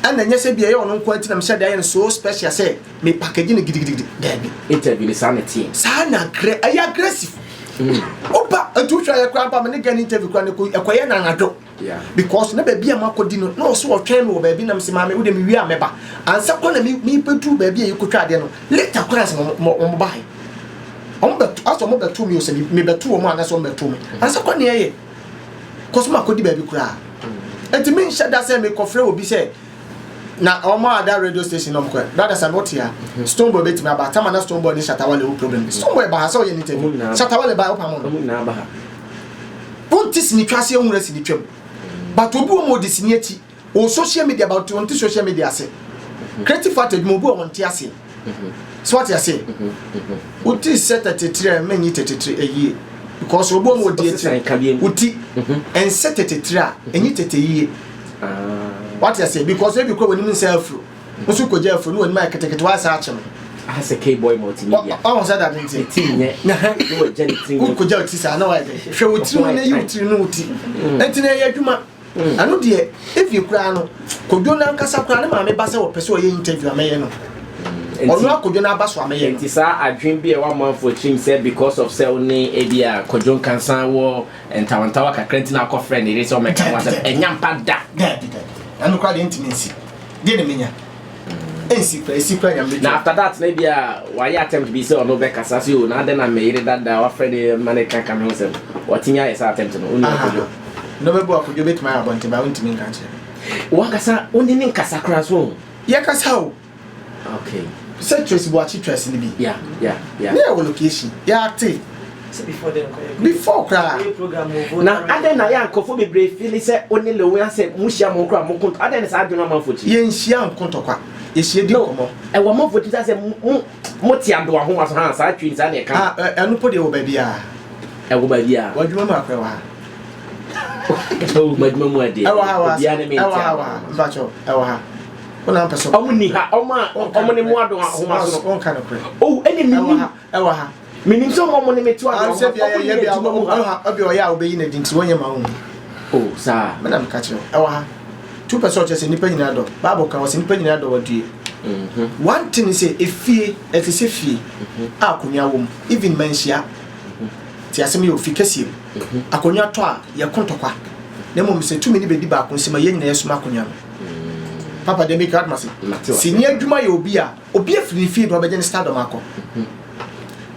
ɛna nyɛ sɛ bi ɛyɛ ɔno nko nti na mehyɛ de ayɛ no so special sɛ Me package no gidigidigidi daabi. Interview ni saa na teɛ. Saa na agrɛ ɛyɛ aggressive. Mm. Oba etu hwɛ ayɛ kura ba me ne gɛn interview kura ne ko ɛkɔyɛ na anadwo. Yeah. Because na baabi a mako di no na ɔso ɔtwɛn mi wɔ baabi nam si maame wo de mi wie a mɛba. Ansa kɔ na mi mi bɛduru baabi a yɛkɔtwa adeɛ no later kɔ na sɛ wɔn ba he. Wɔn bɛ asɛ wɔn bɛto mi o sɛ mi bɛto wɔn a na sɛ wɔn bɛto mi. Ansa kɔ na yɛyɛ. Kɔsɔ mako di baabi kura. Ɛti mi nhyɛ da sɛ mi kɔfrɛ obi sɛ Na ɔmo a da radio station nom kɔɛ brada sɛ no tea stone boy betumi aba tama na stone boy ne shatta wale wo problem bi stone boy ba ha sɛ ɔyɛ ne interview shatta wale ba ɔpa mo no ɔmo nyinaa ba ha wɔn ti sini twa ase ehun sini twam but obi wɔn ɔdi sini akyi wɔ social media but wɔn ti social media ase creative art adwuma obi wɔn ti ase. so ɔte ase oti sɛ tɛtetire a mɛnyi tɛtetire ɛyie because obi ɔmo odi akyire oti ɛnsɛ tɛtetire a ɛnyi tɛtɛ yie wate ase because ebi kura wɔn anim nsa afuro nso kogya afuro ne wɔn anim ayɛ ketekete wɔayɛ sɛ akyɛ no asɛ keyboy multimedia ɔho sɛ dade nti ti nyɛ na ha ne wɔ gya ne ti nyɛ wokogya oti saa na wɔayɛ hwɛ wo tiri mu na yi wo tiri no oti ɛnti na ɛyɛ adwuma Mm. ɛno deɛ even koraa no kodwo no ankasa koraa ne maame ba sɛ wɔpɛ sɛ ɔyɛ interview a mɛyɛ no mm. ɔno akodwo no aba so a mɛyɛ no nti saa adwen bi a ɛwɔ amanfoɔ tirim sɛ because of sɛ wo ne ebi a kodwo nkansa wɔ ntawantawa kakra nti na akɔfrɛ ne yere sɛ ɔmɛka ho asɛm ɛnya mpa da ɛno koraa deɛ ntumi nsi deɛ ne menya ɛnsi kora ɛsi kora nyame bɛtwa na after that na bia wayɛ attempt bi sɛ ɔno bɛkasa sɛ o na adɛn na meyere dada wafrɛ ne ma ne ka ka me ho sɛm watumi ayɛ sɛ attempt no wonu akodwo na ɔbɛbu akodwo bɛtumi ayɛ abɔnten ba wontumi nka kyerɛ wankasa wone ne nkasa kora so yɛkasa o okay sɛ trace boakye trace no bi yeah yeah yeah ne yɛwɔ location yɛate before koraa na adɛn na yɛ a nkurɔfoɔ bebree fili sɛ wo ne lewi asɛ mohyia mo nkora mo kontɔ adɛn ne saa adwene amanfoɔ ti yɛnhyia nkontɔkwa yɛhyia di nkɔmmɔ ɛwɔ amanfoɔ ti sɛ mote ado ahoma so ha saa twin saa ne ɛka ah, eh, ɛno po deɛ wɔ baabiaa ɛwɔ baabiaa wadwuma mu akora wɔ ha madwuma mu adeɛ ɛwɔ ha wɔ ha ɛwɔ ha wɔ ha mpakyɛw ɛwɔ ha wọn na mpɛ sɛ ɔmo ni ha ɔmo a ɔmo ne mu ado ahoma so no ɔnka no korɛ ɔwɔ ɛna mi ni. ɛwɔ ha. Menim sɛ wɔn ne me to ano. Sɛ bia yɛyɛ bia wɔn mu ha. Ɛbi ɔyɛ a wɔbɛyi n'adi nti wɔnyɛ ma wɔn. O saa. Me na meka kyerɛ ɛwɔ ha. Tu pɛ sɛ ɔkyerɛ sɛ nnipa nyinaa dɔ. Bible ka wɔ sɛ nnipa nyinaa dɔ wadue. Mm-hmm. One thing is sɛ efie ɛte sɛ fie mm-hmm. a akonnwa wɔ mu even manhyia mm-hmm. te asɛm yɛ ofi kɛseɛ mu akonnwa tɔ a yɛko ntɔkwa na mmom sɛ tumi ne bɛdi baako nsɛm a yɛn nyinaa yɛsom akonnwa no papa deɛ meka adoma se sini adwuma yɛ obi a Obi afiri ne fie na ɔbɛgye ne stardom akɔ.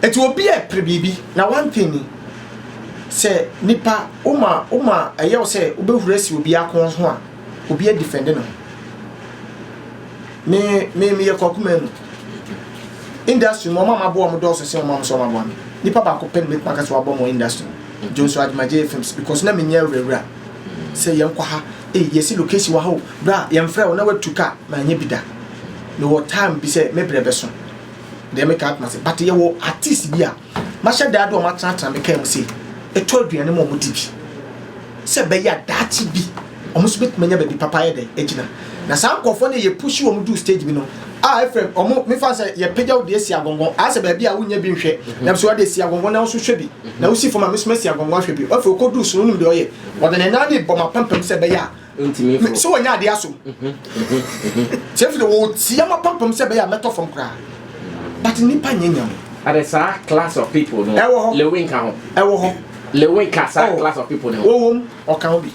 Eti obi repere biribi na one thing ni, sɛ nipa woma woma ɛyɛ wo sɛ wobɛhuru asi obi ako ho a, obi adifɛnde ne ho. Me me meyɛ Kwaku Manu. Industry mu ɔma maboa ɔmo dɔɔso sɛ ɔma mo sɛ ɔma boa me. Nipa baako pɛ na mɛtumi aka sɛ wabɔ mo industry mu. Jonso Agyemagye films because na menyɛ awurawura sɛ yɛnkɔ ha, ei yɛsi location wɔ ha o, bra yɛmfrɛ wo na watu ka, manyɛ bi da. Mewɔ time bi sɛ me brɛ bɛso deɛ meka atena ase but yɛwɔ artist bi a mahyɛ da de wɔn atenatena me kaa mu sɛ ɛtɔ aduane ma wɔn di bi sɛ bɛyɛ a daakye bi wɔn nso bɛtumi anya baabi papa ayɛ dɛ agyina na saa nkurɔfoɔ no yɛ pushi wɔn duru stage bi no a ɛfrɛ wɔn mefa sɛ yɛpagya wo deɛ si agɔngɔn ayɛ sɛ baabi a wonyɛ bi nhwɛ na so wɔde si agɔngɔn na nso hwɛ bi na wosi fam a mesoma si agɔngɔn ahwɛ bi wɔfɛ okɔduru so no wonim deɛ ɔyɛ wɔde ne nan ne bɔ m'apampam sɛ bɛyɛ a Ontumi mforo. So wɔnyɛ adeɛ asom? Sɛ mfiri wɔtia ma pampam sɛ ɛbɛyɛ a mɛtɔ fam koraa. But nipa nyɛ nyam. Ade saa class of people no. Ɛwɔ hɔ. Lewi nka ho. Ɛwɔ hɔ. Lewi ka saa oh. class of people no. Wɔwɔ mu ɔka ho bi.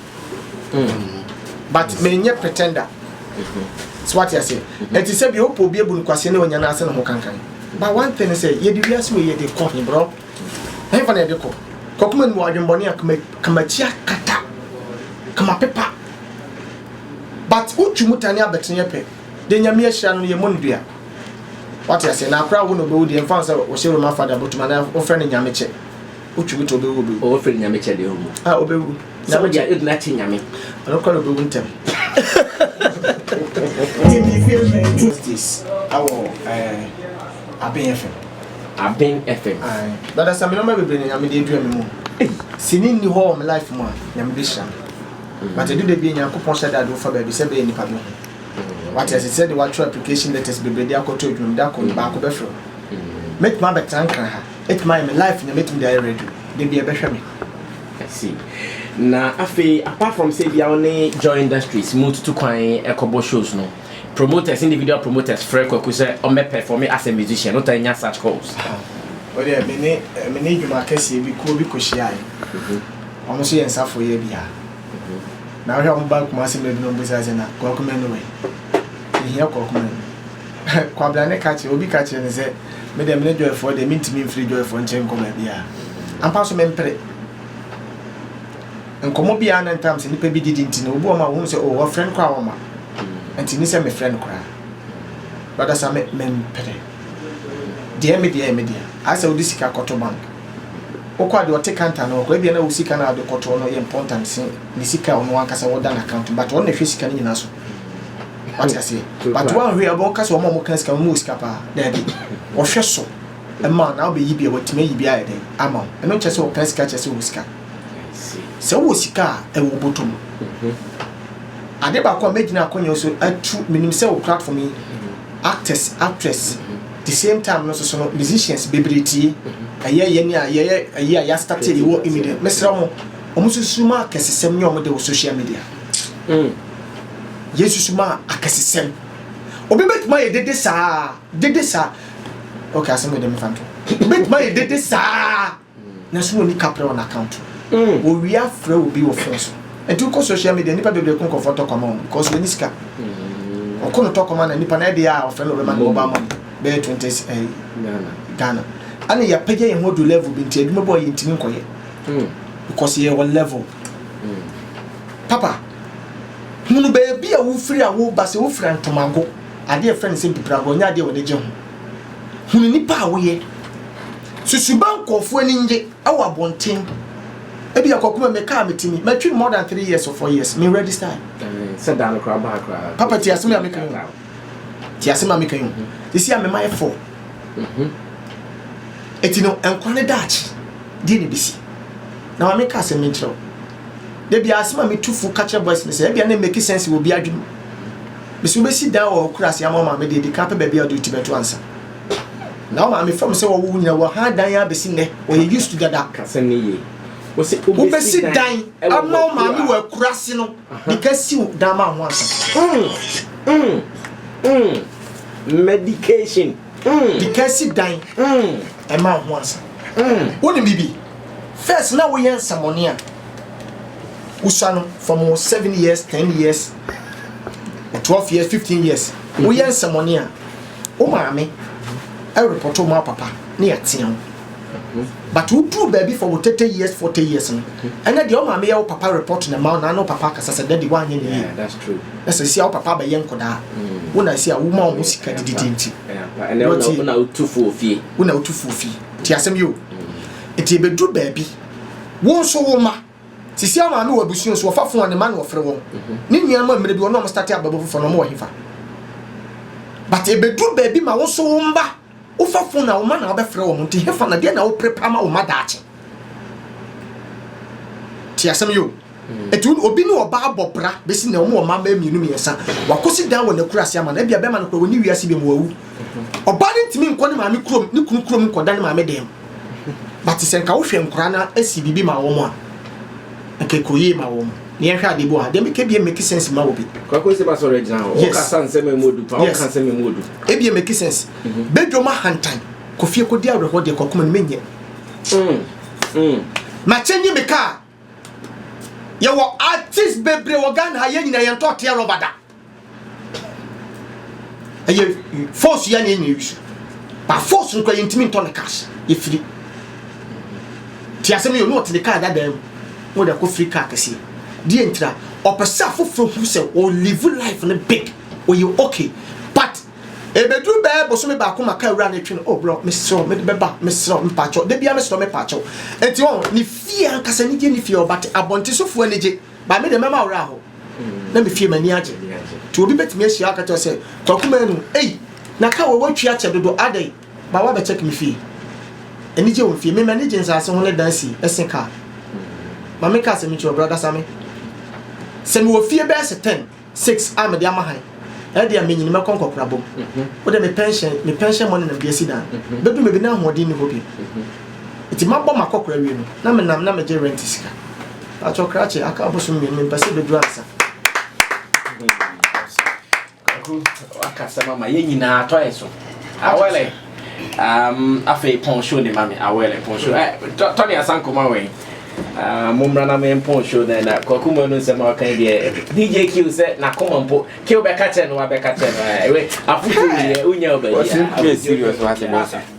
Hmm. But menyɛ pretender. Mm-hmm. So what you say? Mm-hmm. Ɛte sɛ bi opɔ obi ebu no kwaseɛ na wɔnyɛ n'ase na ho kankan. But one thing is sɛ yɛde wiase wɔ yɛde kɔ he bro. Henfa na yɛde kɔ? Kɔ koma nim wɔ adwenbɔne a kamatia kata kama pepa but wo tu mu tane abɛtene yɛ pɛ deɛ nyame ahyira no no yɛ mɔne dua wate aseɛ na akora wo na obewu deɛ mfa sɛ wɔhyɛ roma fada bɔtum anaa wofrɛ no nyame kyɛ wo tu mu to obewu obewu wɔfrɛ no nyame kyɛ deɛ owu ah obewu sɛ wo deɛ edina kye nyame ɔno kora obewu ntɛm Justice awɔ ɛɛ abɛn fɛ Aben FM. Ae dada sɛ me nɔma bebree na nyame de adura me mu sini nni hɔ wɔ me life mu a nyame bɛhyira me mm. but ɛdu da bi nyankopɔn hyɛ da de wofa baabi sɛ bɛyɛ nipa bɛhu mm. wate ase sɛ de watwerɛ application letters bebree de akɔtɔ adwuma mu da kɔ mm. baako bɛfrɛ mm. mɛtumi abɛtena nkra ha ɛtumi ayɛ me life nyame ɛtumi de ayɛ radio da bi ɛbɛhwɛ me see na afei apart from say bia wo ne joy industries mu tutu kwan ɛkɔbɔ shows no Promoters, individual promoters frɛ Kwaku sɛ ɔmmɛ pɛfɔme as a musician, wotaa nya such calls? Aha, wei deɛ me ne, me ne dwuma kɛseɛ bi, kuo bi kɔhyiaeɛ. Wɔn nso yɛ nsa foyɛ bi a, na wohwɛ a wɔba Kumasi mmerɛ bi na wɔbisa sɛ, na Kwaku Manu wɛn? Yɛhia Kwaku Manu. Kwabena ne ka kyerɛ, obi ka kyerɛ no sɛ, me deɛ me ne Joyfoɔ deɛ, mentumi mfiri Joyfoɔ nkyɛn nkɔ baabiara. Ampa so mempere. Nkɔmmɔ bi a na ntam sɛ nnipa bi didi nti no, obi wɔ hɔ ma wohu sɛ, oh, wɔfrɛ no koraa a ɔmma. Ɛnti nni sɛ mefrɛ no koraa. Brada Sam, me, mempene. Deɛ me deɛ yɛ me dea. Ayɛ sɛ wode sika kɔto bank. Wokɔ a deɛ ɔte counter no hɔ koraa, ebia na wo sika no a wode kɔtoɔ no yɛ important se ne sika a ɔno ankasa wɔda n'account mu, but ɔno na ɛhwɛ sika no nyinaa so. Wate aseɛ? But woanhwɛ a, wɔka sɛ wɔn a wɔka sika no, wɔn wɔ sika paa. Daabi. Wɔhwɛ so ma wo na wobɛyi bi a, wɔatumi ayi bi ayɛ dɛn ama wo. Ɛno nkyerɛ sɛ wɔka sika kyerɛ sɛ wɔwɔ sika. Sɛ wowɔ sika a, ɛwɔ wo bɔtɔ mu. Ade baako a mɛgyina akɔnyɛ so atu, menim sɛ wɔ platform yi, actors, actress, the same time no soso no, musicians bebree tie. Ɛyɛ yɛn ni a yɛyɛ ɛyi a yɛastate yɛwɔ immediate. Mesrɛ mo, wɔn susu ma akɛsesɛm nyɛ wɔn de wɔ social media. Yɛn susu ma akɛsesɛm. Obi bɛtumi ayɛ dede saa, dede saa. Okay, asɛm yɛ dɛ mefa nto. Obi bɛtumi ayɛ dede saa. Nanso na onni kaprɛ wɔ n'akaunt mu. Owia frɛ obi wɔ fon so. Ɛnti wokɔ sohyia midia a, nnipa bebree ko nkorɔfoɔ ntɔkwa ma wɔn bikɔs wɔnni sika. Ɔko no tɔkwa ma na nnipa no ɛyɛ dea a ɔfrɛ no ɔbɛma no mobal mɔni bɛyɛ twente cedi ɛyi Ghana. Ɛna yɛapagya yɛn ho aduru lɛvol bi nti adwuma bi wɔ hɔ a yɛntumi nkɔyɛ bikɔs yɛyɛ wɔ lɛvol. Papa, hunu baabi a wofiri a woreba. Sɛ wofiri Antomago, adeɛ a yɛfrɛ no sɛ Mpipragorɔ nyɛ adeɛ a w'ani gye ho. Hunu nnipa a woyɛ. Susuba nkorɔfoɔ ani ngye wɔ abɔnten ebia kwaku ma me car meti mi matwi no more than three years or four years me register yi sɛ da no koraa baa koraa papa ti asem a me kan yi ti asem a me kan yi sisi a me ma yɛ four eti no nkwa ne daakye deɛ ne besi na ma me ka asem me nkyerɛw de bia asem a me tu fu ka kyerɛ boys ne sɛ ebia ne make sense wɔ bi adwene mu me sɛ wobɛsi dan wɔ kurase ama ma me deɛ di kan pɛ baabi a wode ti bɛto ansa Na wo maame fam sɛ wɔwo wo nyina wɔ ha dan ara bɛsi nnɛ wɔyɛ used to dada. Ka sɛm no yie. Wose wobɛsi dan ama wo maame wɔ akurase no de ka siw dan ma ho ansa. Mm, mm, mm. Medication. Mm. De ka si dan. Mm. Ɛma ho ansa. Mm. Wonim bibi. First na woyɛ nsɛmɔne a. Usa no from 7 years, 10 years. Twelve years, fifteen years. Woyɛ nsɛmɔne a, wo maame ɛrepɔtɔ ma wo papa na yɛatea wo. But woduru baabi for wo thirty years, forty years no, ɛnɛ deɛ wo maame yɛ wo papa report na ma wo na ne wo papa akasa sɛ daddy woanyɛ ne yie. Na sɛ si a wo papa abɛyɛ nkɔdaa. Wo na si a woma wɔn sika dididi nti. Wo na wotu fuo fie. Wo na wotu fuo fie. Ti asɛm yi o. Nti ebeduru baabi, wo nso wo ma. Sisi a maame wɔ abusua so ɔfa fon a ne mma na ɔfrɛ wɔn ne nua ama mmerɛ bi wɔn a wɔn starte abɛbɔ foforɔ no wɔn wɔ hefa but ɛbɛduru baabi ma wo nso wo mma wofa fon a wo mma na wabɛfrɛ wɔn nti hefa na deɛ na wo prepa ma wo mma daakye ti asɛm yo ɛti mm. obi ne ɔba abɔ bra bɛsi na wɔn wɔ mma mmaa mmienu mmiɛnsa wakɔsi dan wɔ n'akura ase ama na ebia bɛma no kora wɔn ne wiase bi mu wawu ɔba ne ntumi nkɔ ne maame kurom ne kunu kurom nkɔda ne maame dɛm But sɛ nka wohwɛ nkora na esi bibi ma wɔn a, nka ekɔ yie ma wɔn. Ne yɛn hwɛ adeɛ bi wɔ ha, deɛ meka bie make sense ma obi. Kwako nsɛm asɔre gyina hɔ. Yes. Ɔkasa nsɛm emu odu pa. Yes. Ɔka nsɛm emu odu. Ebie make sense. Mhm. Bedwo ma hantan. Kofie kodi awerɛhoɔ deɛ kɔ akoma no menyɛ. Mm. Mm. Makyɛ nye me kaa. Yɛwɔ artist bebree wɔ Ghana ha, yɛn nyinaa yɛntɔ tea rɔba da. Ɛyɛ force yɛ na yɛn nyinaa wisu. Ba force no kora yɛntumi ntɔ no cash, yɛfiri. Ti asɛm yɛ ɔno ɔte ne kaa dadaa mu, na ɔde akɔ firi kaa kɛseɛ. Deɛ ntira, ɔpɛ sɛ afoforɔ hu sɛ ɔlive life no big, ɔyɛ okay. But Ebeduru bɛyɛ bosome baako ma car wura no twe no, oh brɔ, mesrɛ wo, mede bɛba, mesrɛ wo, mepakyɛw, da biara mesrɛ wo, mepakyɛ wo. Enti wɔn, ne fie ankasa anigye nni fie hɔ, but abɔnten sofoɔ ani gye, but me deɛ mɛma wura hɔ, na me fie m'ani agye. Nti obi bɛtumi ahyia wo aka kyerɛ wo sɛ, Kwaku Manu, ei, na car wei woatwi akyɛ dodo, adɛn, but woabɛ check me fie. Anigye wɔ me fie, me m'ani gye nsaase ho ne dan si ɛsen car. Ma menka asɛm nkyerɛ wo, Brɔda Same, sɛ mewɔ fie bɛyɛ sɛ ten, Six a mede ama han ɛdeɛ a menyin mɛkɔ nkɔkorabɔ mu wodeɛ me pɛnhyɛn me pɛnhyɛn money na mede asi dan bɛdu baabi na ahoɔden nni hɔ bio nti mabɔ makɔkora awie no na menam na megye rent sika pakyɛ krakye aka abosom mmienu mempɛ sɛ bɛduru ansa akasɛm ama yɛn nyinaa atɔ yɛ so awɛlɛ Um, afei pɔn show ne ma me awɛlɛ pɔn show eh, tɔ ne asanko ma wɛn ah, mo mmra na me mpɔn show na na kwaku mu no nsɛm a ɔka deɛ eh, dj q sɛ n'akoma mpo q bɛka kyɛ no wabɛka kyɛ no eh, ɛwɛ afotu deɛ wonya wo baabi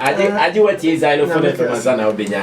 a agye agye watie xylophone to ma sa na wobɛnya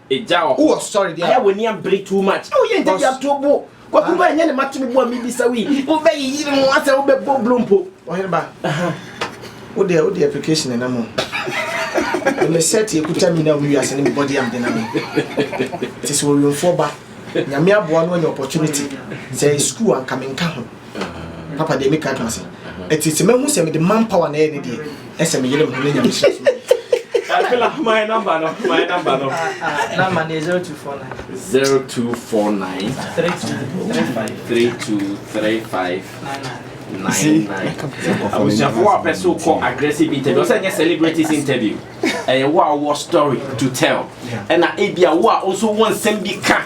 Egya wɔ hɔ ayɛ w'ani abere too much woyɛ ntɛbi ato bo Kwaku ba ɛnyɛ ne ma to me bo a mebisa wo yi wobɛ yi yiri mu asɛ wobɛ bɔ blo mpo. Ɔhene ba wo deɛ wo deɛ application ɛnam o ɛmɛ sɛti ekuta mi na ɔmo wiase ne mi body am denam yi te sɛ ɔwiemfoɔ ba nyame aboa no anya opportunity sɛ ɛyɛ school anka me nka ho. papa deɛ meka ka sɛ ɛti sɛ mahu sɛ mede man power na ɛyɛ ne deɛ ɛsɛ meyere me ho ne nyame sɛ my number no my number no number ne 0249 0249 3235 abusuafo wo a pɛ so kɔ aggressive interview ɔsɛ nyɛ celebrities interview ɛyɛ wo a wɔ story to tell ɛna ebia wo a nso wɔ nsɛm bi ka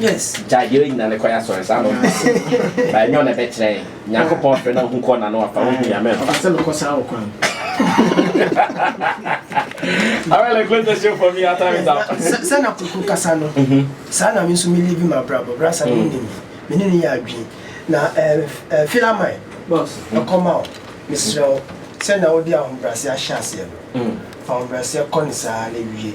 Yes. Gya yere nyina ne kɔyɛ asɔre saa no. Ba nyɛ na bɛ kyerɛ. Nyankopɔn frɛ na hu kɔ na no afa hu ya mɛ. Asɛ no kɔ saa wo kwan. Awele close the show for me our time is out. Sɛ na kuku kasa no. Mhm. Saa na me nso me live my brabo. Brasa no nim. Me ne ne yɛ adwin. Na eh eh filaman. Boss. Ɛkɔma o. Mesrɛ o. Sɛ na wo de ahobrɛase ahyɛ aseɛ no. Fa ahobrɛase kɔ ne saa na wie.